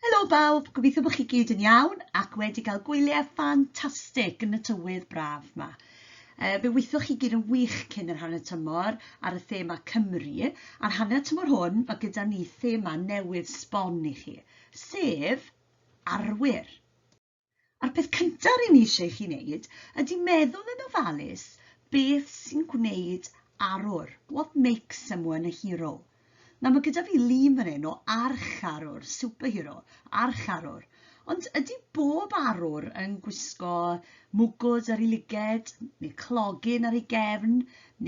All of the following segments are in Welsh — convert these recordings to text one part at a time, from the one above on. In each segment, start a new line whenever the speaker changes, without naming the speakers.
Helo bawb, gobeithio bod chi gyd yn iawn ac wedi cael gwyliau ffantastig yn y tywydd braf yma. E, fe weithioch chi gyd yn wych cyn yr hanner tymor ar y thema Cymru, a'r hanner tymor hwn mae gyda ni thema newydd sbon i chi, sef arwyr. A'r peth cyntaf rŷn ni eisiau i chi wneud ydy meddwl yn ofalus beth sy'n gwneud arwr, what makes someone a hero. Nawr mae gyda fi lun fan hyn o archarwr, superhero, archarwr. Ond ydy bob arwr yn gwisgo mwgwd ar ei lyged, neu clogyn ar ei gefn,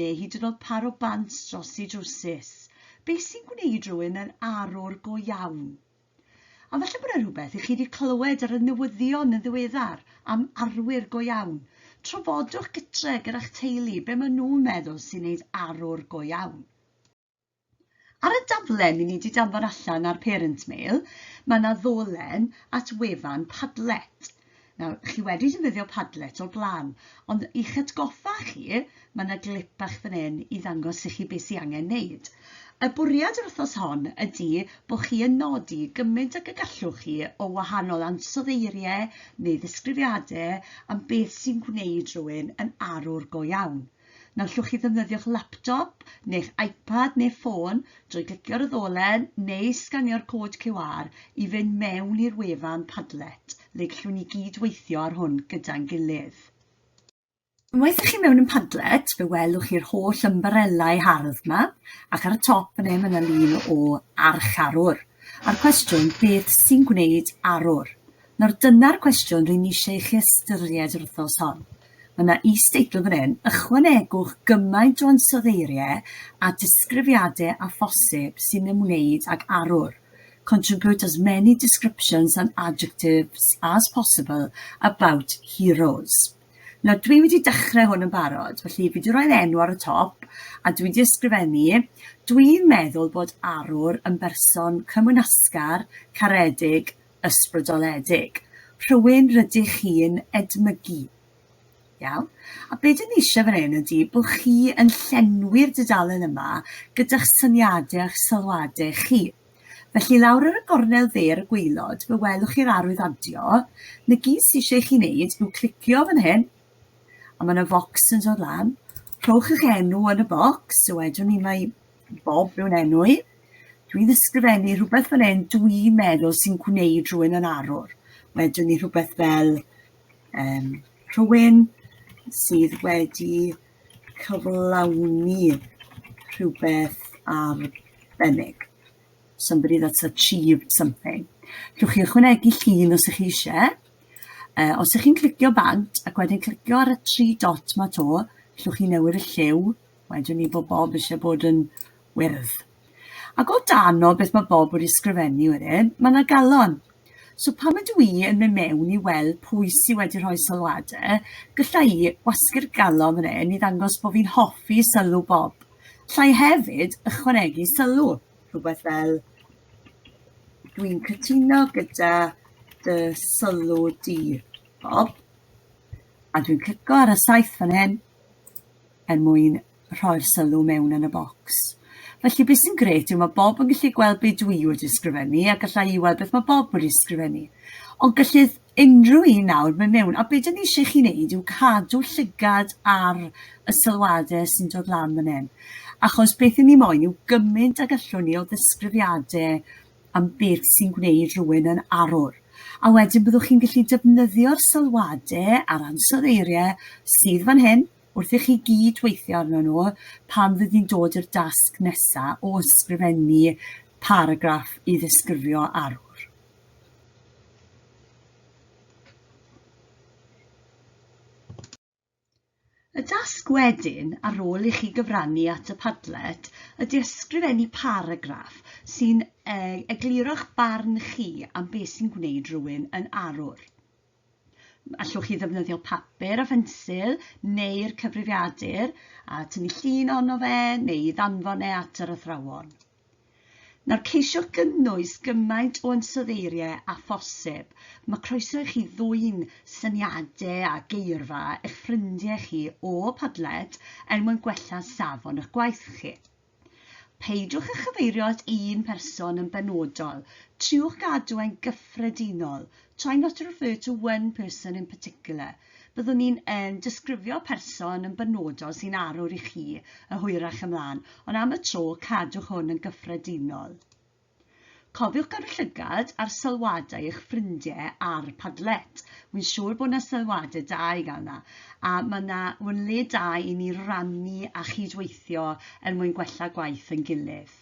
neu hyd yn oed par o bant dros ei drwsus? Be sy'n gwneud rhywun yn arwr go iawn? A falle bod 'na rhywbeth i chi 'di clywed ar y newyddion yn ddiweddar am arwyr go iawn. Trafodwch gytre gyda'ch teulu be maen nhw'n meddwl sy'n neud arwr go iawn. Ar y daflen i ni 'di danfon allan ar Parent Mail, mae 'na ddolen at wefan Padlet. Nawr, chi wedi defnyddio Padlet o'r blaen, ond i'ch atgoffa chi, mae yna glip bach fan hyn i ddangos i chi beth sydd angen wneud. Y bwriad yr wythnos hon ydy bod chi yn nodi gymaint ag y gallwch chi o wahanol ansoddeiriau neu ddisgrifiadau am beth sy'n gwneud rhywun yn arwr go iawn. Na allwch chi ddefnyddio'ch laptop neu'ch iPad neu ffôn drwy glicio ar y ddolen neu sganio'r cod QR i fynd mewn i'r wefan Padlet, le gallwn ni gyd weithio ar hwn gyda'n gilydd. Unwaith ych chi mewn yn Padlet, fe welwch chi'r holl ymbarelau hardd yma, ac ar y top yn e mae yna lun o archarwr. A'r cwestiwn, beth sy'n gwneud arwr? Nawr dyna'r cwestiwn rwy'n eisiau i chi ystyried yr wythnos hon. Mae yna is-deitl fan hyn, ychwanegwch gymaint o ansoddeiriau a disgrifiadau â phosib sy'n ymwneud ag arwr, contribute as many descriptions and adjectives as possible about heroes. Nawr, dwi wedi dechrau hwn yn barod, felly fi wedi rhoi'r enw ar y top, a dwi wedi ysgrifennu, dwi'n meddwl bod arwr yn berson cymwynasgar, caredig, ysbrydoledig, rhywun rydych chi'n edmygu. Iawn? A be dyn ni eisiau fan hyn ydy bod chi yn llenwi'r dudalen yma gyda'ch syniadau a'ch sylwadau chi. Felly lawr ar y gornel dde ar y gweilod, fe welwch chi'r arwydd adio. Na gyd sy'n eisiau chi wneud yw clicio fan hyn, a mae yna focs yn dod lan. Rhowch eich enw yn y bocs, so wedwn ni mae Bob yw'n enw i. Dwi'n ysgrifennu rhywbeth fan hyn dwi'n meddwl sy'n gwneud rhywun yn arwr. Wedyn ni rhywbeth fel um, rhywun sydd wedi cyflawni rhywbeth arbennig. Somebody that's achieved something. Rwy'ch chi ychwanegu llun os ych chi eisiau. Uh, os ych chi'n clicio bant ac wedyn clicio ar y tri dot ma to, llwch chi newid y lliw Wedyn ni bod Bob eisiau bod yn wyrdd. Ac o dan o beth mae Bob wedi sgrifennu wedyn, mae yna galon. So pan ydw i yn mynd mewn i weld pwy sydd wedi rhoi sylwadau, gylla i wasgu'r galon fan hyn i ddangos bod fi'n hoffi sylw Bob. Llai hefyd ychwanegu sylw, rhywbeth fel dwi'n cytuno gyda dy sylw di, Bob. A dwi'n clico ar y saith fan hyn, er mwyn rhoi'r sylw mewn yn y bocs. Felly, be sy'n grêt yw mae Bob yn gallu gweld be dwi wedi ysgrifennu a gallai i weld beth mae Bob wedi ysgrifennu. Ond gellith unrhyw un nawr mynd mewn, a be dyn ni eisiau chi wneud yw cadw llygad ar y sylwadau sy'n dod lan fan hyn. Achos beth ni moyn yw gymaint ag allwn ni o ddisgrifiadau am beth sy'n gwneud rhywun yn arwr. A wedyn byddwch chi'n gallu defnyddio'r sylwadau a'r ansoddeiriau sydd fan hyn, Wrth i chi gyd weithio arnyn nhw, pan fydd hi'n dod i'r dasg nesaf o ysgrifennu paragraff i ddisgrifio arwr. Y dasg wedyn, ar ôl i chi gyfrannu at y Padlet, ydy ysgrifennu paragraff sy'n egluro'ch barn chi am beth sy'n gwneud rhywun yn arwr. Allwch chi ddefnyddio papur a phensil neu'r cyfrifiadur a tynnu llun ono fe neu i ddanfon e at yr athrawon. Nawr ceisio gynnwys gymaint o ansoddeiriau a phosib. Mae croeso i chi ddwyn syniadau a geirfa eich ffrindiau chi o Padlet er mwyn gwella safon eich gwaith chi. Peidiwch â chyfeirio at un person yn benodol, triwch gadw e'n gyffredinol, try not to refer to one person in particular, byddwn ni'n yn disgrifio person yn benodol sy'n arwr i chi y hwyrach ymlaen, ond am y tro cadwch hwn yn gyffredinol. Cofiwch gadw llygad ar sylwadau eich ffrindiau ar Padlet. Wi'n siŵr bod 'na sylwadau da i gael 'na, a mae 'na yn le da i ni rannu a chydweithio er mwyn gwella gwaith ein gilydd.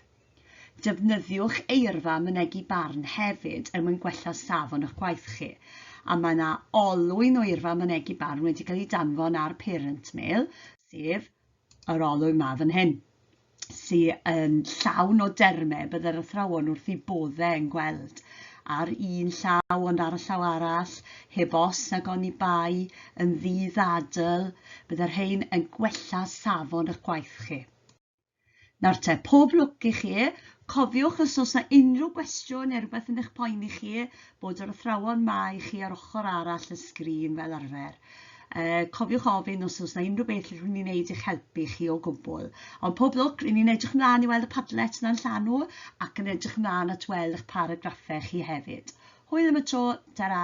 Defnyddiwch eirfa mynegi barn hefyd er mwyn gwella safon eich gwaith chi, a mae 'na olwyn o eirfa mynegi barn wedi cael ei danfon ar Parent Mail, sef yr olwyn ma fan hyn, sy'n yn llawn o dermau byddai'r athrawon wrth ei boddau yn gweld. Ar un llaw ond ar y llaw arall, heb os nag oni bai yn ddydd adl, byddai'r rhain yn gwella safon eich gwaith chi. Nawr te, pob lwc i chi. Cofiwch os oes 'na unrhyw gwestiwn neu rhywbeth yn eich poeni chi, bod yr athrawon 'ma i chi ar ochr arall y sgrin fel arfer. Uh, cofiwch ofyn os oes 'na unrhyw beth lle rhywun ni'n neud i'ch helpu chi o gwbl. Ond pob lwc, ry'n ni'n edrych ymlaen i weld y Padlet na'n llanw ac yn edrych ymlaen at weld eich paragraffau chi hefyd. Hwyl am y tro, ta-ra!